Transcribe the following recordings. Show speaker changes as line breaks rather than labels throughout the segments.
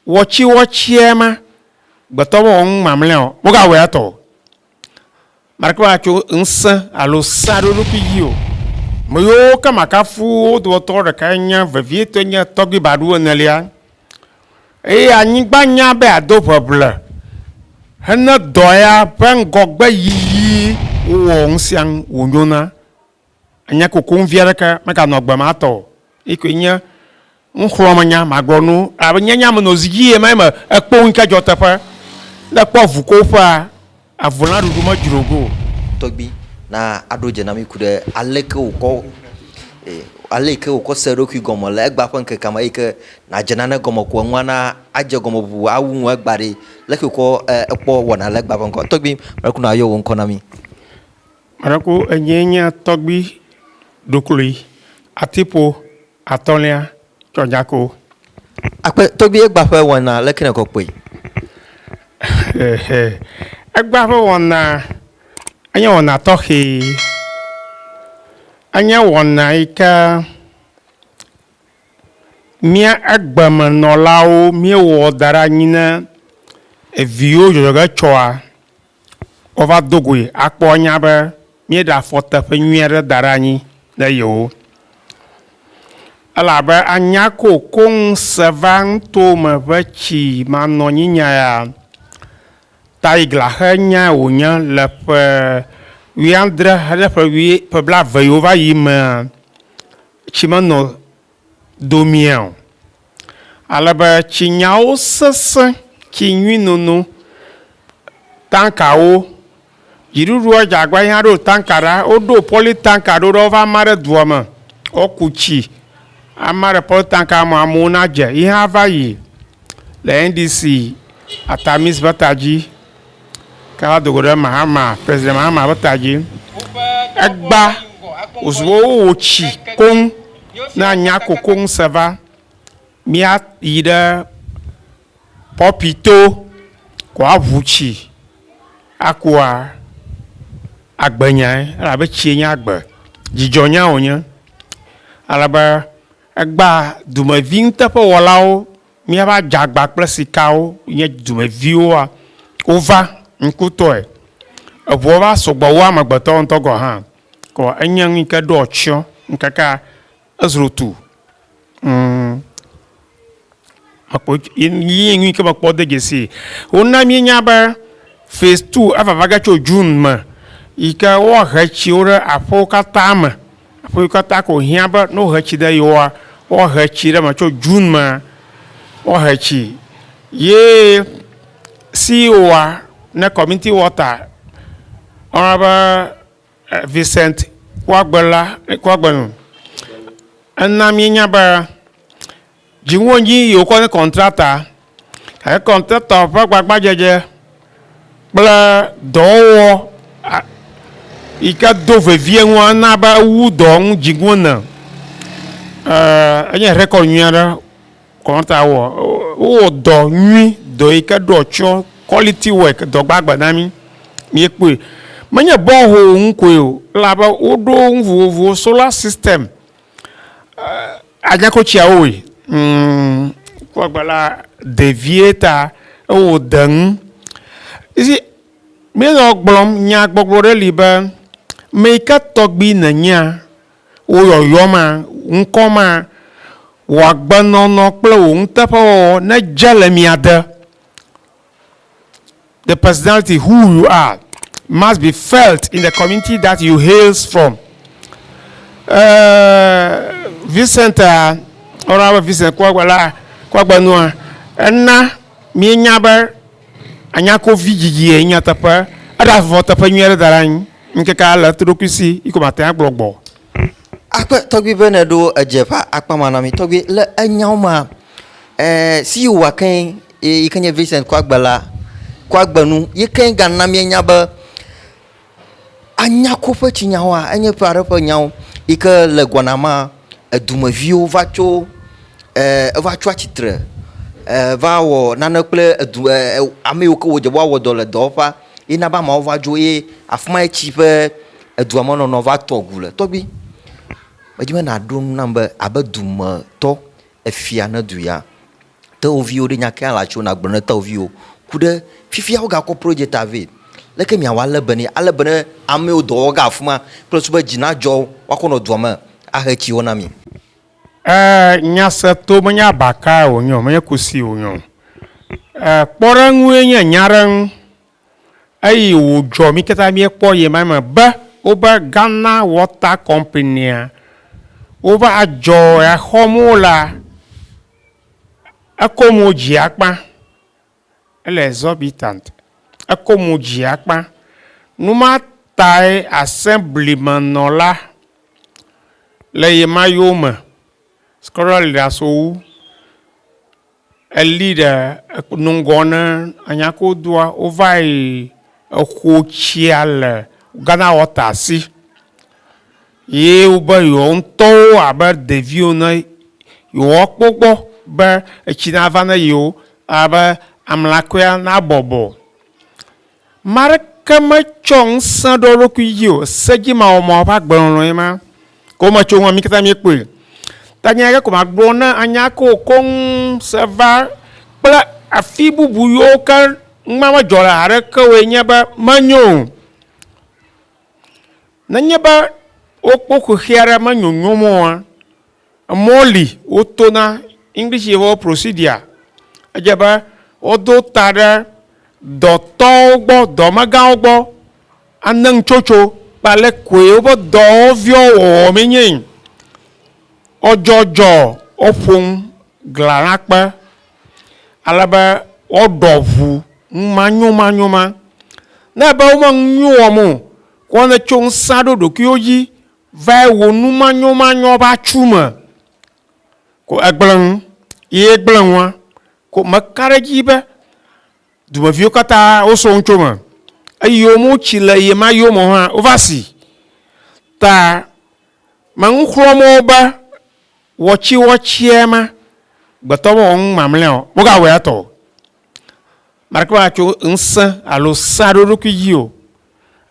Wɔtsiwɔtsiɛ ma gbetɔ be wɔŋ mamlɛa o, wogawɔe atɔ o. Maɖeke matso ŋsẽ alo sea ɖe eɖokui dzi o. Me yiwo ke makafu wo dometɔ ɖeka enye vevietɔe nye Tɔgbui Baɖu enelia. Eye anyigba nya be ado ʋeʋle hene dɔ ya ƒe ŋgɔgbeyiyi wowɔ ŋusiaŋu wònyona. Enye kokoŋ vi aɖeke meganɔ agbe ma tɔ o. Eyi koe nye nuxlɔ̃menya, magblɔ nu elabe nye nya menɔ zi dzi ɣemaɣi me. Ekpɔ nu yi ke dzɔ teƒe. Ne èkpɔ avu koƒea, avu la ɖuɖu medzro ge o. Tɔgbui, na aɖo dze na mí ku ɖe ale yi ke wòkɔ, ale yi ke wòkɔ se eɖokui gɔme le egbea ƒe ŋkekea me eyi ke nàdze nane gɔme ko enua na adze gɔme ʋuʋu awu ŋu egbea ɖi. Leke wòkɔ ekpɔ wɔna le egbea ƒe ŋkɔ. Tɔgbui, mele kpɔ be nàyɔ wò ŋkɔ na mí. Maɖeko enyee nye tɔgbi ɖoklui, atiƒo atɔ̃lia tsɔdzako. Akpe tɔgbi egba ƒe wɔna leke nèkɔ kpɔe? Hehe, egba ƒe wɔna enye wɔna tɔxɛ. Enye wɔna yi ke mía egbemenɔlawo míewɔ da ɖe anyi ne eviwo dzɔdzɔge tsɔa. Wova do goe akpɔ nya be míeɖe afɔ teƒe nyui aɖe da ɖe anyi ne yewo. Ele abe anya ko koŋ se va nutome ƒe tsi manɔnyinyae ya. Taigla xe nyae wònye le ƒe wuiadre ɖe ƒe wui, ƒe blaeve yiwo va yi mea, tsi menɔ do mía o. Ale be tsi nyawo sesẽ, tsi nyui nono, tankawo, dziɖuɖua dze agbagba yina ɖo tanka ɖa, woɖo pɔli tanka ɖo ɖe wova ma ɖe dua me, woku tsi ama ɖe pɔli tanka me amewo na dze yi hã va yi. le NDC Atamis ƒe ta dzi, ke va do go ɖe Mahama, President Mahama ƒe ta dzi. Egba wòzu be wowò tsi koŋ ne anya ko koŋ se va. Mía yi ɖe Pɔpi to ko aʋu tsi akua agbe nyae elabe tsie nye agbe. Dzidzɔ nya wònye alebe. Egbã dumevi nuteƒewɔlawo, míaƒe adzagba kple sikawo nye dumeviwoa, wova ŋkutɔe. Eŋuwo va sugbɔ wu amegbetɔwo ŋutɔ gɔ̃ hã. Kɔ enye nu yi ke ɖo atsyɔ̃ ŋkekea ezro tu. Ŋ. Mekpɔ ye nyuie ke mekpɔ de dzesi wona mienya be phase two ava vage tso June me yi ke woahe tsiwo ɖe aƒewo katã me. Aƒewo katã ko hiã be ne wohe tsi ɖe yewòa, woahe tsi ɖe eme tso June me woahe tsi ye CEO ne community water woyɔna be Vincent Kouagbela Kouagbenu ena mienya be Dziŋuwo dzi yi wokɔ nye kɔntrata gake kɔntratɔ ƒe gbagbadzedze kple dɔwɔwɔ yi ke do vevie ŋu ana be ewu dɔ ŋu dziŋuwo ne. Enye rekɔd nyui aɖe kɔntrata wɔ. Wowɔ dɔ nyui, dɔ yi ke ɖɔ tsɔ, kɔliti wɛk, dɔ gbagbe na mí. Míekpɔe. Menye bɔhol ŋu koe o elabe woɖo nu vovovowo, sola sistɛm Agako tsiawo woe kpɔ gbe la ɖevie ta ewo de nu you see mi nɔ gblɔm nya gbɔgblɔ ɖe li be me yi ke tɔgbi nènyea wò yɔyɔ ma ŋkɔ ma wò agbenɔnɔ kple wò nuteƒewɔwɔ nedze le mia de. the personality who you are must be felt in the community that you hails from. Uh, Vincent, uh, Honorable Vincent Kwagwala, Kwagbanua, ena mienya be anyakovi dzidzi ye nyateƒe, eɖe avɔ teƒe nyui aɖe da ɖe anyi, ŋkeke ale to ɖokui si, yi ko mate ŋu agblɔ gbɔ. Akpe tɔgbi be nèɖo edzeƒa akpamanami tɔgbi le enyawo mea. Eer si wòwɔa keŋ yi ke nye Vincent Koagbe la, Koagbe nu yi ke gana míenya be Anyako ƒe tsinyawoa, enye ƒe aɖe ƒe nyawo yi ke le gbɔna mea, edumeviwo va tso eer eva tso atsitre eer va wɔ nane kple edu eer ame yiwo ke wodze be woawɔ dɔ le dɔwɔƒea ye na be ameawo va dzo ye afi mae tsi ƒe edua me nɔnɔ va tɔ ŋu le. Tɔgbui, medi be nàɖo nu nam be abe dumetɔ Efia ne du ya. Tewòviwo ɖe nya kea la tso nàgblɔ ne tewòviwo ku ɖe fifia wogakɔ projecta vɛ leke miawɔ ale be nɛ ale be ne amewo dɔ wɔge afima kple susu be dzi nadzɔ wo woakɔ nɔ dua me ahe tsiwo na mi. E nya se to menye abakae wònye o menye kusi wònye o e kpɔɖeŋue nye nya ɖe ŋu. Eyi wòdzɔ mí katã míekpɔ ɣe ma me be wobe Ghana Water Company-a wova adzɔ ya xɔm wo lea, eko mo dzi akpa. Ele exorbitant. Eko mo dzi akpa. Nu ma tae Assembly me nɔla le ɣemaɣiwo me, Scorer Leader Sowu, Eli ɖe nu ŋgɔ ne anya ke wodoa, wova yi exo tsia le Ghana wɔta si ye wobe yewo ŋutɔwo abe ɖeviwo ene yewoa kpɔ gbɔ be etsi na va ne yewo. Abe amlakea na bɔbɔ. Ame aɖeke metsɔ ŋusẽ ɖo eɖokui dzi o, sedzimawɔmawɔ ƒe agbenɔnɔe ma. Ke wometso eŋu o, mi katã miekpɔe. Ta nya aɖe ke ko magblɔ ne anya kewo koŋ se va kple afi bubu yiwo ke numa medzɔ le haɖe ke woe nye be, menyo o. Nenye be wokpɔ xexea ɖe menyonyom oa, Emɔ li woto na, English yɛ ƒe procedure. Edze be wodo ta ɖe dɔtɔwo gbɔ, dɔmegãwo gbɔ ane ŋtsotso kple ale koe woƒe dɔwɔviwo wɔwɔ mee nye yi. Wodzɔdzɔ woƒo ŋu gla na kpe ale be woɖɔ ŋu ŋu manyomanyo ma. Ne ebe wome ŋu wɔm o, kɔ ne tso ŋusã ɖo ɖokuiwo dzi Vae wò nu manyɔmanyɔ ƒe atsu me ko egblẽ nu ye egblẽ nua ko meka ɖe edzi be dumeviwo katã wosɔ nu tso eme eye womewo tsi le ye ma yome hã wova si ta me nu xlɔm wo be wɔtsi wɔtsie ma gbetɔ mewɔ nu mamlɛa o, wogawɔe etɔ o. Maɖeke meatso ŋusẽ alo sea ɖe eɖokui dzi o.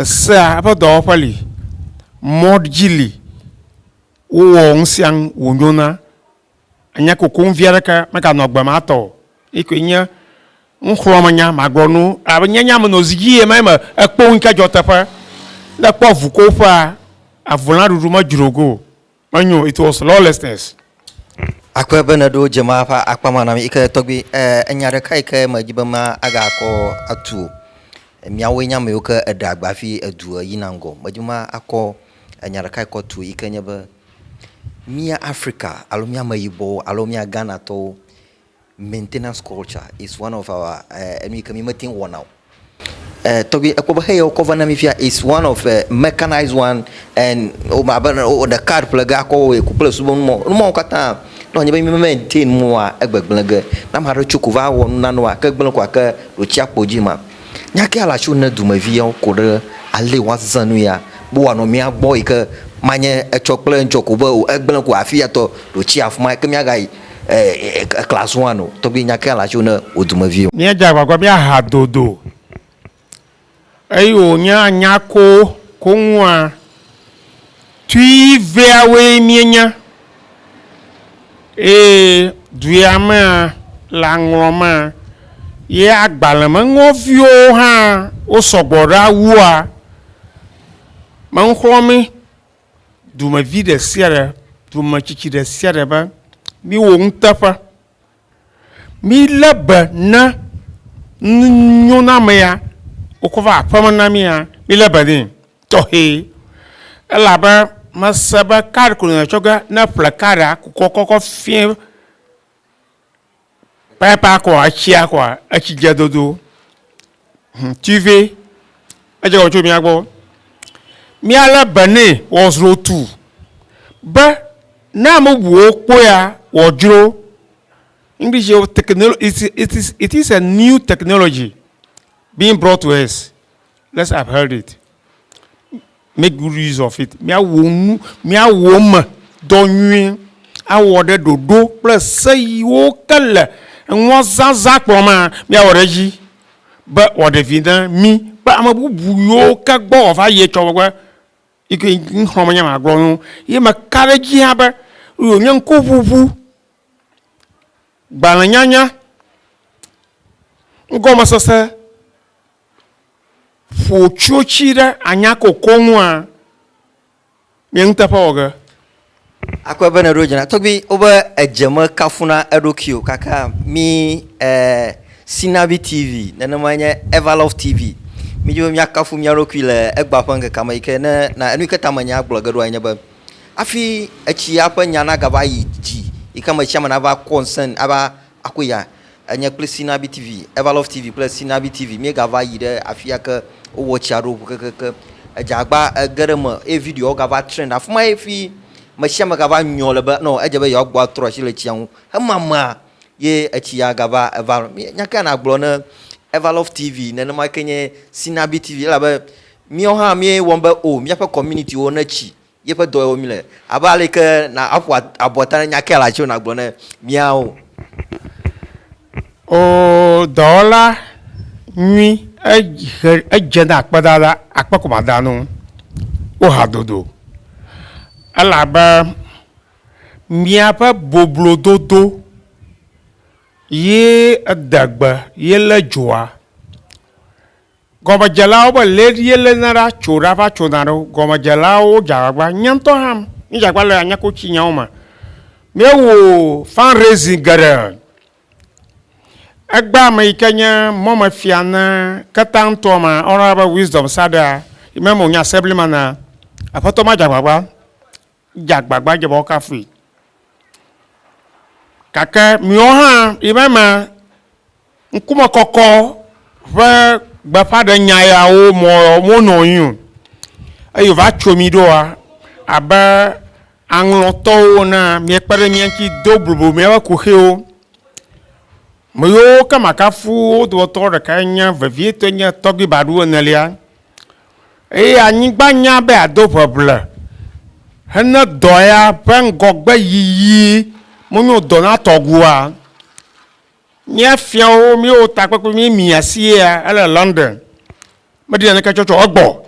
Esea eƒe dɔwɔƒe li, mɔ dzi li, wowɔ nusianu wònyona, enye kokoŋ vi aɖeke meganɔ agbe ma tɔ o. Eyi koe nye nuxlɔ̃amenya magblɔ na wo elabe nye nya menɔ zi dzi ɣemaɣi me ekpo ŋu yi ke dzɔ teƒe. Ne ekpɔ avukoƒea, avulãɖuɖu medzro go o. Menyo, it was lawlessness. Akpe be nèɖo dzemaa ƒe akpa ma nam yi ke tɔgbi. Ɛɛ, enya ɖeka yi ke medi be ma aga kɔ atu wò. Miawoe nye ame yiwo ke eɖe agba hafi edu yina ŋgɔ. Medi be ma akɔ enya ɖeka yi kɔ tu wò yi ke nye be, mía Afrika alo mía Ameyibɔwo alo mía Ghanatɔwo, Maintenance culture is one of our eh, enu yi ke mi mete ŋu wɔna o. Eh, tɔgbi ekpɔ be heya wokɔ va na mi fia is one of eh, mechanized one and o ma be o ɖe card ƒle ge akɔ wɔe ku kple subo numɔ numɔwo katã ne wònye be mi me maintain mua egbegblẽ ge ne ame aɖe tso ko va wɔ nunana wa ke gblẽ ko ake ɖo tsi akpo dzi ma nya ke ala tso ne dumevi yawo ko ɖe ale woazã nu ya be wòanɔ mía gbɔ yi ke manye etsɔ kple ŋtsɔ ko be o egblẽ ko afi ya tɔ ɖo tsi afima ke míagayi eh class one o tɔgbi nya ke alacho ne o dume vi o. Mía dze agbagba be aha dodo eye wo nye anya ko koŋua tui vea woe mie nya eye duea mea le aŋlɔ ma ye agbalẽ me ŋɔ viwo hã wo sɔgbɔ ɖa wua me ŋxlɔ mi. dumevi ɖe sia ɖe, dumetsitsi ɖe sia ɖe be míwɔ nuteƒe. Mílé be ne nunyoname ya wokɔ va aƒeme na mía, mílé be nɛ tɔxɛ elabe mese be kaɖi ko nɔnɔ tsɔ ge ne eƒle kaɖia kukɔ kɔkɔ fiẽ. Pɛpɛa kɔa etsia kɔa etsi dze dodo hum tuive edze kɔ tso mía gbɔ. Mía le be nɛ wɔ zro tu be ne ame bubuwo kpɔea wɔ dzro. English wo technolo it it is it is a new technology being brought to us let's upheld it. Make good use of it. Míawɔ nu, míawɔ eme dɔ nyuie awɔ ɖe ɖoɖo kple se yiwo ke le enuazazã kplɔ mea, míawɔ ɖe edzi be wòaɖe vi na mí kple ame bubu yiwo ke gbɔ wòava yi etsɔ megbe. Yi ke ŋxɔ menye ema gblɔ na wo. Ye meka ɖe edzi hã be wònye ŋkuʋuʋu, gbalẽnyanya, nugɔmesese ƒo tsotsi ɖe anyakoko ŋua? Nye nuteƒe wɔ ge. Akpɔe be nèɖo dzi na tɔgbui wobe edze me kafuna eɖokui o kaka mi e Sinabi TV nenemae nye Evalove TV. Mi dzi be mia kafu mia ɖokui le egba ƒe ŋkekea me yike ne na enu yike ta me nya gblɔ ge ɖoa enye be afi etsia ƒe nya na gava yi dzi yike ame sia ame nava kɔ ŋsẽ ava Aku ya enye kple Sinabi TV, Everlove TV kple Sinabi TV míegava yi ɖe afia ke wowɔ tsia ɖo ŋu kekeake. Edze agba ege ɖe eme eye videoawo gava trend afi ma hafi me sia me gava nyɔ le be nɔ edze be yewoagbɔ atrɔ asi le tsia ŋu hemamea ye etsi ya gava eva. Nya ka nàgblɔ ne Everlove TV nenema ke nye Sinabi TV elabe míawo hã míewɔm be o míaƒe community-wo netsi Yeƒe dɔ wɔm míle. Abe ale yi ke na aƒo abɔta ne nya ke la dzi o nagblɔ ne míawo. O dɔwɔla nyui, ehe edze ne akpedada akpe ko mada nu wo hadodo elabe míaƒe boblododo ye edegbe ye le dzoa. Gɔmedzelawo be le ɖi yele na ɖa tso ɖa va tso na ɖo gɔmedzelawo wo dza gbagba nye ŋtɔ hã mi dza gba le anya ko tsi nyawo ma mi wo fund raising geɖe egba ame yi ke nye mɔ me fia na keta ŋtɔ ma ɔna be wisdom saɖea yi me me wo nye assembly mana aƒetɔ ma dza gbagba Edze agbagba dze be woakafui. Gake miwo hã miva eme ŋkumekɔkɔ ƒe gbeƒãɖenya yawo mɔ monɔ anyi o eye wòva tso mi ɖoa, abe aŋlɔtɔwo enea, miekpe ɖe mía ŋuti do bubu míaƒe kuxiwo. Ame yiwo ke makafu wo dometɔ ɖekae nye vevietɔe nye Tɔgbi Badu enelia. Eye anyigba nya be yeado ʋeʋle hene dɔ ya ƒe ŋgɔgbeyiyi menyo dɔ na tɔgua. Mía fiawo, míewo takpekpe mí mia si yea ele London. Meɖi naneke tsɔ tsɔ egbɔ o.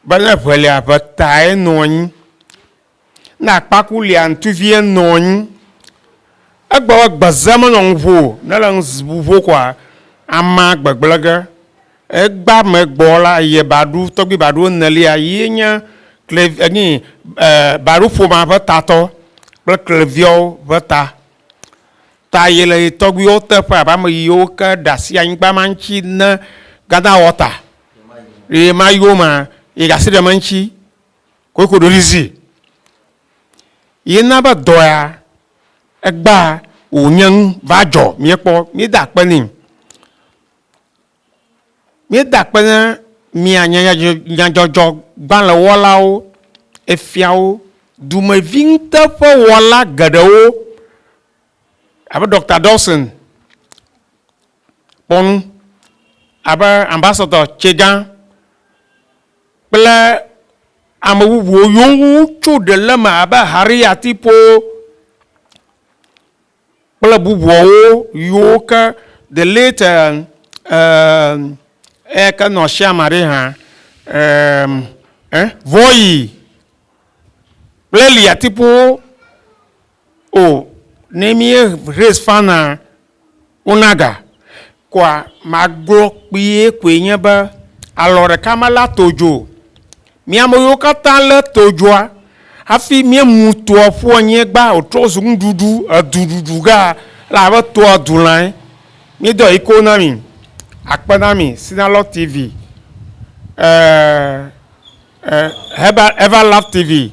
Be ne ʋelia ʋe tae nɔ anyi. Ne akpaku lia ŋtuvie nɔnyi egbɔ be gbeze menɔ ŋuvo ne le ŋuvo kɔa ama gbegblege egba me gbɔ la ye ba ɖu tɔgbi ba ɖu enelia ye nye kle enyi ba ɖu ƒoma ƒe tatɔ kple kleviawo ƒe ta ta ye le yi tɔgbiwo te ƒe abe ame yiwo ke ɖasi anyigba ma ŋtsi ne gada wɔta ɣemaɣiwo ma ye ɖasi ɖe me ŋtsi koeko ɖo ɖizi yena be dɔ ya egba wò nye nu va dzɔ mía kpɔ mí da akpe nɛ mí da akpe ne mía nya nyadzɔdzɔ gbalẽ wɔlawo efiawo dumevi ŋute ƒe wɔla geɖewo abe Dɔkta Dawson kpɔ nu abe Ambassador Tsegã kple ame bubuwo yiwo ŋu wotso ɖe le eme abe Harry Atipo kple bubuawo yiwo ke the late eya ke nɔ Siama ɖe hã Voyi kple Li Atipowo. O ne mie raise fana unaga koa magblɔ kpuie koe nye be alɔ ɖeka mele ato dzo o. Mi ame yiwo katã lé to dzoa hafi miemu toa ƒu anyiegba wòtrɔ zu nuɖuɖu eduɖuɖu gea, ele abe toa du lãe. Míedɔ ɣi koŋ na mi. Akpe na mi Sinalɔ TV ɛɛ ɛɛ Ever Love TV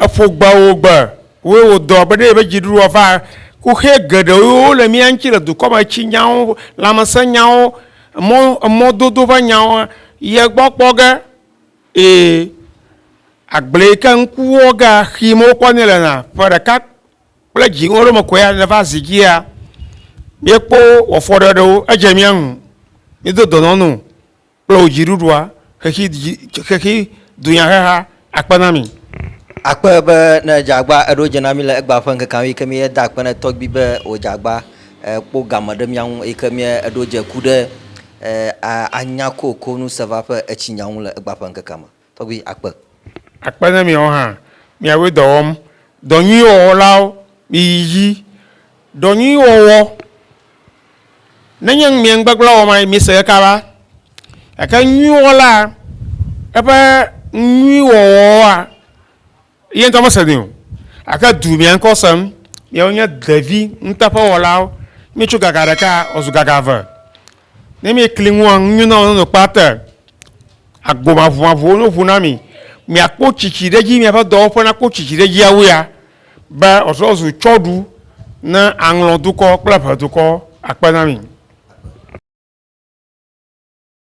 Eƒo gbe wo gbe woe wo dɔ be ɖe yebe dziɖuɖua va kuxɛ geɖe wo wo le mía ŋuti le dukɔ me tsi nyawo lãmesẽ nyawo emɔ emɔ dodo ƒe nyawo ye gbɔ kpɔ ge eye agble yi ke ŋku wo ge axim wo kpɔ ne le na ƒe ɖeka kple dzi wo ɖo me koe ne va zi dzia mía kpɔ wɔ fɔɖeɖewo edze mía ŋu mí do dɔnɔnu. kple wò dziɖuɖua, xexi dzi, xexi dunyaheha akpe na mi. Akpe be ne edze agba eɖo dze na mi le egba ƒe ŋkekea ŋu yi ke míeda akpe ne tɔgbui be wòdze agba kpɔ game ɖe mía ŋu yi ke mía eɖo dze ku ɖe anya kokonu sevaƒe etsinya ŋu le egba ƒe ŋkekea me. Tɔgbi akpe. Akpe ne miawo hã miawoe dɔ wɔm. Dɔ nyui wɔwɔlawo, miyi dzi. Dɔ nyui wɔwɔ, nenye mie ŋugbegblẽ wɔm ayi, mise ɖeka va. Gake nyui wɔlaa, eƒe nyui wɔwɔa, Ye ŋutɔ mese nɛ o, gake du mia ŋkɔ sem, miawo nye devi nuteƒewɔlawo, mietso gaga ɖeka wòazu gaga eve, ne miekli ŋua nu nyuie na wò nɔnɔkpe ate agbo maʋumaʋuwo no ŋu na mi, miakpɔ tsitsi ɖe edzi, miaƒe dɔwɔƒe nakpɔ tsitsi ɖe edzi awu ya, be wòatrɔ azu tsɔɖu na aŋlɔdukɔ kple ʋedukɔ. Akpe na mi.